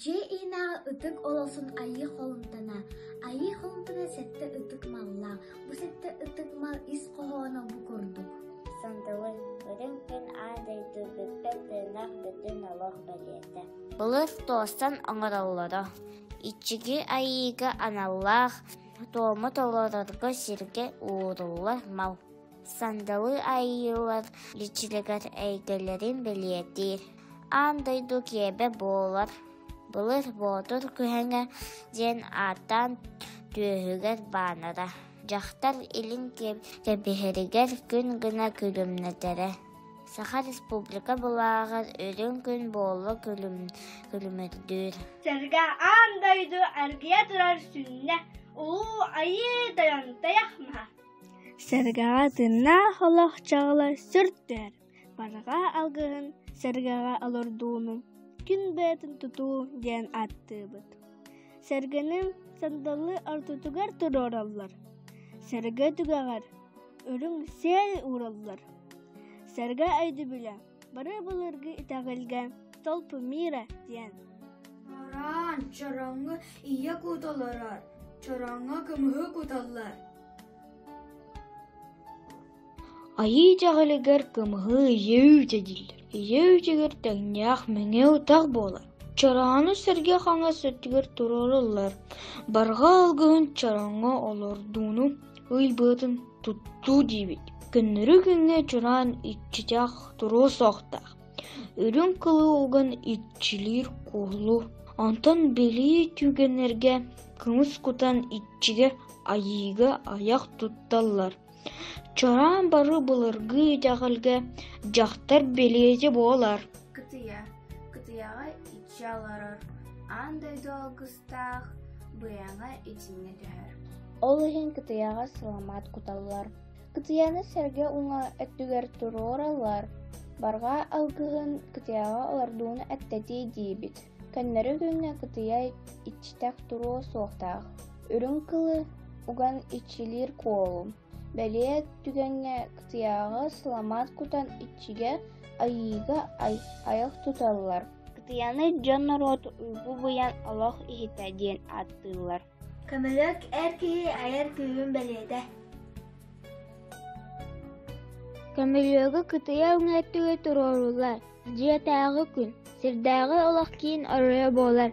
Дьиэ-иинээҕи ытык олосон айыы холумтана. Айыы холумтана сэттэ ытык маллаах. Бу сэттэ ытык мал ис хоһооно бу курдук. Сандалын Үрүҥ күн аан дойдугуттан тыынах бүтүн олох бэлиэтэ. Былыр туостан оҥороллоро. Иччиги айыыга аналлаах туому толорорго сиргэ ууруллар мал, сандалы айыылар личилигэр эйгэлэрин бэлиэтиир. Аан дойду киэбэ буолар Былыр Боотур күһэҥэ диэн ааттаан түөһүгэр баанара. Дьахтар илин кэбиһэригэр күн гына күлүмнэтэрэ. Саха Республика былааҕын үрүҥ күн буола күлүмүрдүүр. Сэргэ аан дойду эргийэ турар сүнньэ Улуу Айыы Тойонтойох маһа. Сэргэҕэ тыыннаах олохчоҕолор сүрдэр. Барҕа алгыһын сэргэҕэ олордууну күн быатын тутуу диэн ааттыыбыт. Сэргэни сандалы ортотугар туруораллар. Сэргэ түгэҕэр Үрүҥ сиэл уураллар. Сэргэ өйдөбүлэ бары былыргы итэҕэлгэ «Толпу мира» диэн. Араан чороҥҥо ийэ кута олорор, чороҥҥо кымыһы куталлар. Айыы дьаҕалыгар кымыһы ийэ үүтэ дииллэр. Ийэ үүтүгэр тэҥнээх мэҥэ утах буолар. Чороону сэргэ хаҥас өттүгэр туруораллар. Барҕа алгыһын чороҥҥо олордууну Ый быатын туттуу диибит, көннөрү күҥҥэ чураан иччитэх туруо суохтаах, үрүҥ кылыылган иччилиир куһулу, онтон билии түгэннэргэ кымыс кутан иччигэ айыыга айах тутталлар. Чураан бары былыргы итэҕэлгэ дьахтар бэлиэтэ буолар. Кытыйа. Кытыйаҕа иччи олорор. Аан дойду алгыс тустаах, быйаҥа итиннэ түһэр. Ол иһин кытыйаҕа сыламаат куталлар. Кытыйаны сэргэ уҥа өттүгэр туруораллар. Барҕаа алгыһын кытыйаҕа олордууну эттэтии диибит. Көннөрү күҥҥэ кытыйа иччитэх туруо суохтаах. Үрүҥ кылы уган иччилиир куолум. Бэлиэ түгэҥҥэ кытыйаҕы сыламаат кутан иччигэ, айыыга айах туталлар. Кытыйаны дьон норуот уйгу быйаҥ олох иһитэ диэн ааттыыллар. Көмөлөк эр киһи айар күүһүн бэлиэтэ. Көмөлүөгү кытыйа өҥөттүгү туруоруулар. Дьиэтээҕи күн. Сирдээҕи олох киин оройо буолар.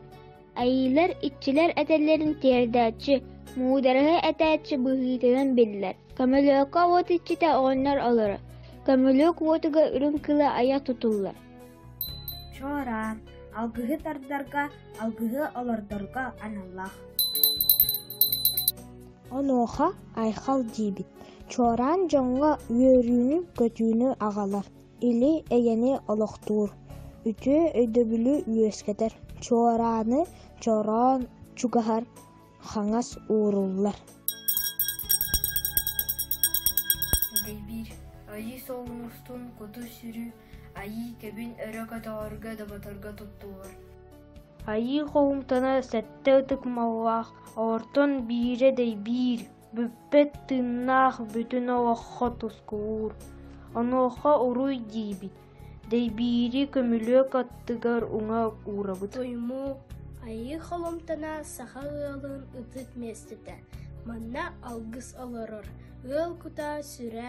Айыылар иччилэр этэллэрин тиэрдээччи, муударыһа этээччи быһыытынан биллэр. Көмөлөөххө уот иччитэ оҕонньор олоро. Көмөлөөх уотуга үрүҥ кыла айа тутуллар. Чуораан алгыһы тардарга, алгыһы олордорго аналлаах. Онуоха айхал диибит. Чуораан дьоҥҥо үөрүүнү-көтүүнү аҕалар. Или эйэни олохтуур, үтүө өйдөбүлү үөскэтэр, чуорааны чороон чугаһар хаҥас ууруллар Дэйбиир Айыы Солун устун куту-сүрү Айыы кэбин өрө көтөҕөргө доботорго туттулар Айыы Хоумтана сэттэ ытык маллаах Ортон биирэ дэйбиир Бүппэт тыыннаах бүтүн олоххо тускуур, онуоха уруй диибит, дэйбиири көмүлүөк аттыгар уҥа уурабыт. Туймуу Айыы Холумтана саха ыалын ытык миэстэтэ. Манна алгыс олорор, ыал кутаа сүрэ